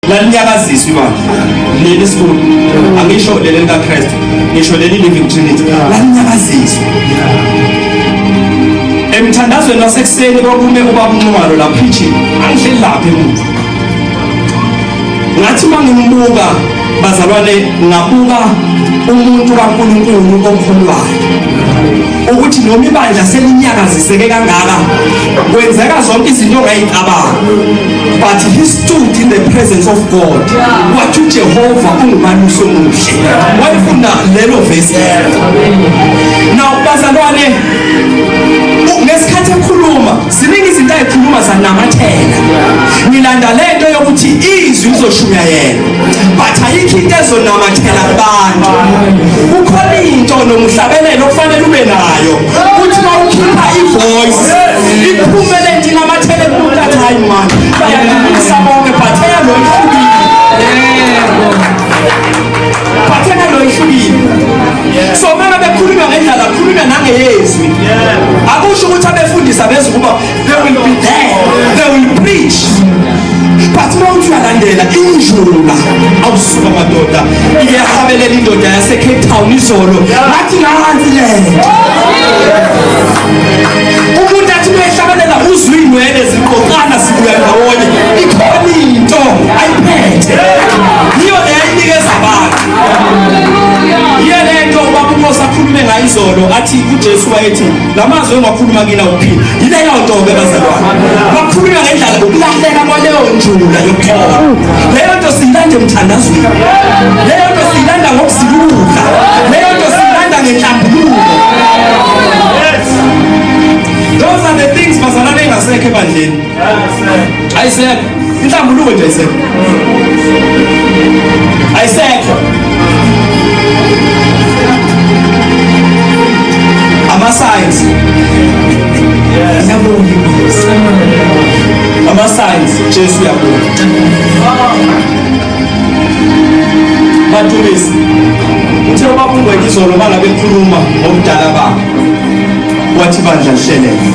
lalinyakaziswa imanje leli sikhulu angisho leli likaKristu ngisho leli living trinity lalinyakaziswa emthandazweni wasekuseni kwakume ubaba unxumalo la preaching angihleli lapha emuva ngathi uma ngimbuka bazalwane ngabuka umuntu kaNkulunkulu okholwayo ukuthi noma ibandla selinyakaziseke kangaka kwenzeka zonke izinto ongayicabanga but stood in the presence of God wathi uJehova ungubani usomuhle wayefuna lelo verse now bazalwane ngesikhathi ekhuluma ziningi izinto ayikhuluma zanamathela ngilanda lento yokuthi izwi lizoshumayela but ayikho into ezonamathela kubantu kukhona into nomhlabelelo okufanele ube nayo ukuthi mawukhipha ivoice iphume le ndina amathele kumuntu athi hayi mani bayakubisa bonke but eyalo ihlukile but eyalo ihlukile so mele bekhulunywa ngendlala khulunywa nangeyezwi akusho ukuthi abefundisi abezukuba They will be there. They will preach. But uma uthi uyalandela injula awusuka madoda iyahabelela indoda yasecape town izolo ngathi nansi le umuntu athi uyehlabelela uzwa iy'nwele ziqoqana sibuya ndawonye ikhona into ayiphethe yiyo le ayinikeza abantu yiyo le nto ubaba umosi akhulume ngayo izolo athi ujesu wayethi lamazwi engiwakhuluma kina uphila yileyo nto-ke bazalwane wakhuluma ngendlala ukulahleka kwaleyo njula yokuthoma leyo nto siyilanda emthandazweni leyo nto siyilanda ngokuzibuka leyo nto siyilanda ngenhlambuluko those are the things bazalwane engasekho ebandleni ayisekho inhlambuluko nje ayisekho ayisekho ama-signs ama-signs jesu uyabuya badumisi uthe ubabungwekizolo uma ngabe khuluma ngobudala babo wathi bandla lihleleke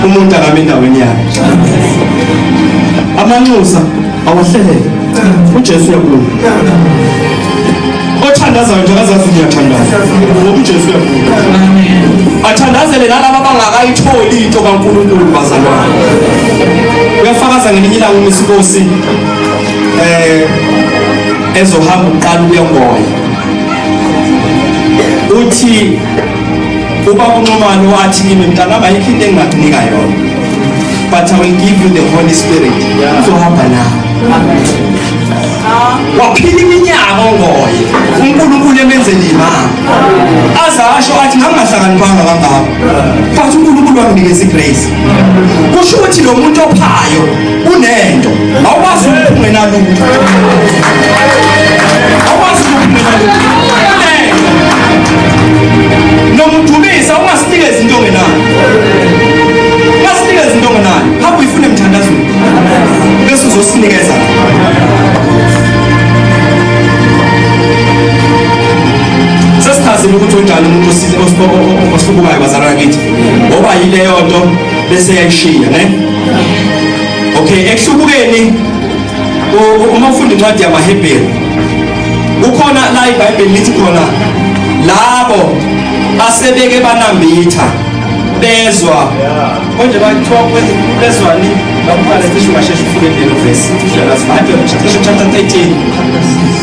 umuntu akame endaweni yakhe amanxusa awahleleke ujesu uyakhuluma othandazayo nje akazazi ngiyathandaza ngoba ujesu uyakhuluma athandazele nalaba abangakayitholi into kankulunkulu bazalwane uyafakaza ngelinye ilanga umisikosi um eh, ezohamba uqala ukuya ngoya uthi uba unxumane wathi kimi mntanami ayikho into engingakunika yona but i will give you the holy spirit uzohamba nawe waphila iminyaka ongoye unkulunkulu emenzela imama aze asho athi ngangingahlakaniphanga kangako But uNkulunkulu wanginikeza igrace. Kusho ukuthi lo muntu ophayo unento awukwazi ukuphuma nalutho. Awukwazi ukuphuma nalutho. Nomdumisa ungasinika izinto ngenayo. Ungasinika izinto ngenayo. Hamba uyifune emthandazweni. Bese uzosinikeza. Thank you. sesichazile ukuthi unjani umuntu osibukayo bazalwa kithi ngoba yileyo nto bese yayishiya ne okay ekuhlubukeni uma ufunda incwadi yamahebheru kukhona la ibhayibheli lithi khona labo asebeke banambitha bezwa konje bakuthiwa bezwani bakubale cishe ungasheshe ufike lelo vesi cishe chapter 13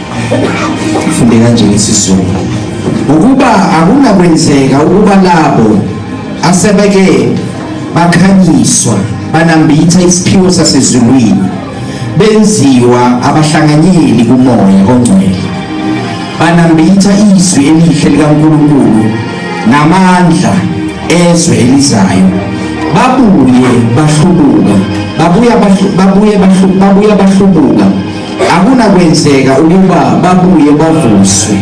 Funde kanje ngesizulu. Ukuba akunakwenzeka ukuba labo asebeke bakhanyiswa banambitha isiphiwo sasezulwini benziwa abahlanganyeli kumoya ongcwele banambitha izwi elihle likaNkulunkulu namandla ezwe elizayo babuye bahlubuka babuya babuye bahlubuka Akunakwenzeka ukuba babuye bavuswe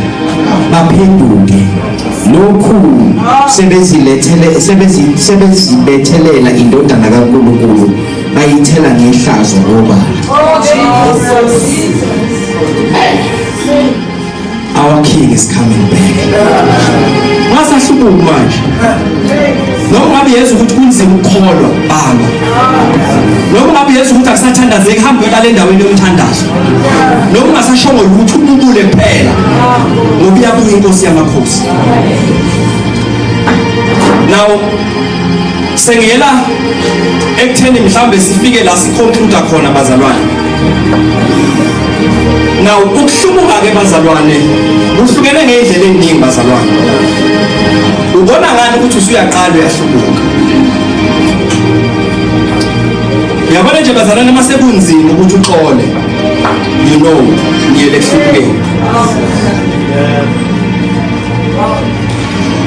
baphenduke lokhu sebezilethele sebezibethelela indodana kaNkulunkulu bayithela ngehlazo ngoba Our king is coming back. Wasahlubuki manje. Noma ngabe yezwa ukuthi kunzima ukukholwa bamba. Noma ngabe yezwa ukuthi akusathandazeki hamba uyolala endaweni yomthandazo. Noma ungasashongo lutho ububule kuphela. Ngoba iyabuya inkosi yamakhosi. Now sengiyela ekutheni mhlambe sifike la siconclude khona bazalwane Now ukuhlubuka ke bazalwane kuhlukene ngendlela eningi bazalwane. Ubona ngani ukuthi usuyaqala uyahlubuka? Yabona nje bazalwane masekunzima ukuthi uxole. You know, ngiyele ehlukeni.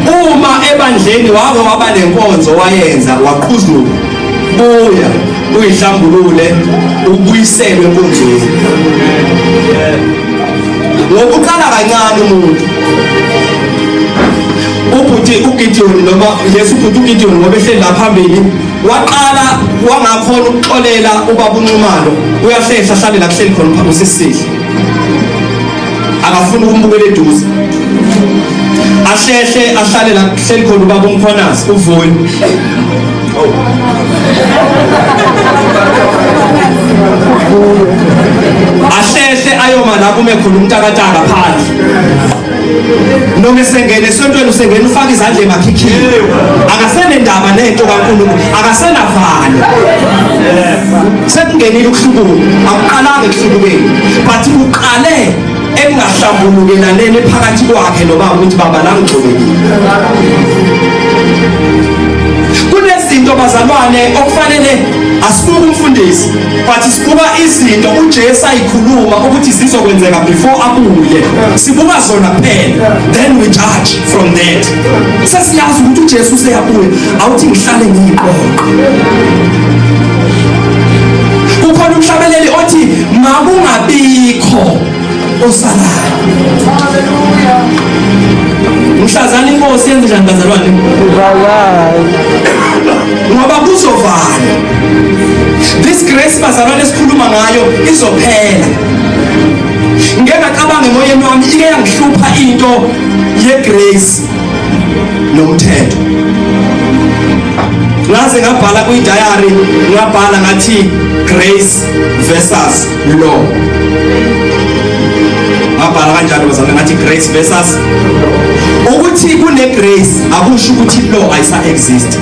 Uma ebandleni wake waba nenkonzo wayenza waqhuzuka buya uyihlambulule ubuyiselwe enkonzweni ngokuqala kancane umuntu ubhuti ugidiyoni noma yesu ubhuti ugidiyoni ngoba ehleli la phambili waqala wangakhona ukuxolela ubaba unxumalo uyahlehla ahlale la kuhleli khona phambi usisihle akafuni ukumbukela eduze ahlehle ahlale la kuhleli khona ubaba umkhonasi uvuyo ahlehle ayoma la kume khona umtakataka phansi noma esengena esontweni usengena ufaka izandla emakhikhini akasenendaba nento kaNkulunkulu akasenavalo sekungenile ukuhlubuka akuqalanga ekuhlubukeni but kuqale ekungahlambulukelaneni phakathi kwakhe nobaba ukuthi baba langigxobekile kunezinto bazalwane okufanele asibuke umfundisi but sibuka izinto uJesu ayikhuluma ukuthi zizokwenzeka before abuye sibuka zona kuphela then we judge from that sesiyazi ukuthi uJesu useyabuya awuthi ngihlale ngiyiqoqo makungabikho osalayo mhlazana inkosi yenze njani bazalwane ngoba kuzovala this grace bazalwane esikhuluma ngayo izophela ngeke ngacabanga emoyeni wami ike yangihlupha into yegrace nomthetho ngaze ngabhala kwi-diary ngabhala ngathi grace versus law ngabhala kanjalo bazame ngathi grace versus ukuthi kune grace akusho ukuthi law ayisa exist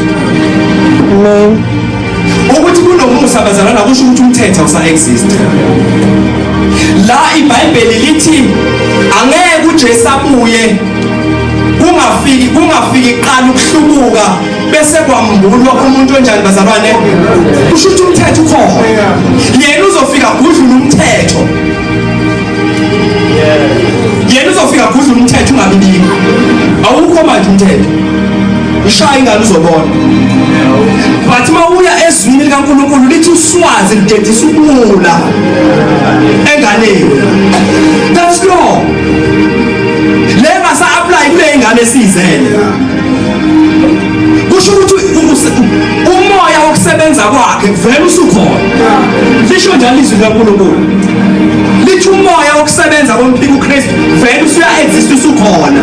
amen ukuthi kunomusa bazalana kusho ukuthi umthetho usa exist la ibhayibheli lithi angeke uJesu abuye kungafiki kungafiki qala ukuhlubuka bese kwambulwa umuntu onjani bazalwane kusho ukuthi umthetho ukhona yena uzofika kudlula umthetho yena uzofika kudlula umthetho ungabibiki awukho manje umthetho ushaya ingane uzobona but uma uya ezwini likankulunkulu lithi uswazi lidedisa ukula enganeni that's law le ngasa-aplayi kule ingane esiyizele kusho ukuthi umoya wokusebenza kwakhe vele usukhona lisho njalo izwi likaNkulunkulu lithi umoya wokusebenza komphika uKristu vele usuya exist usukhona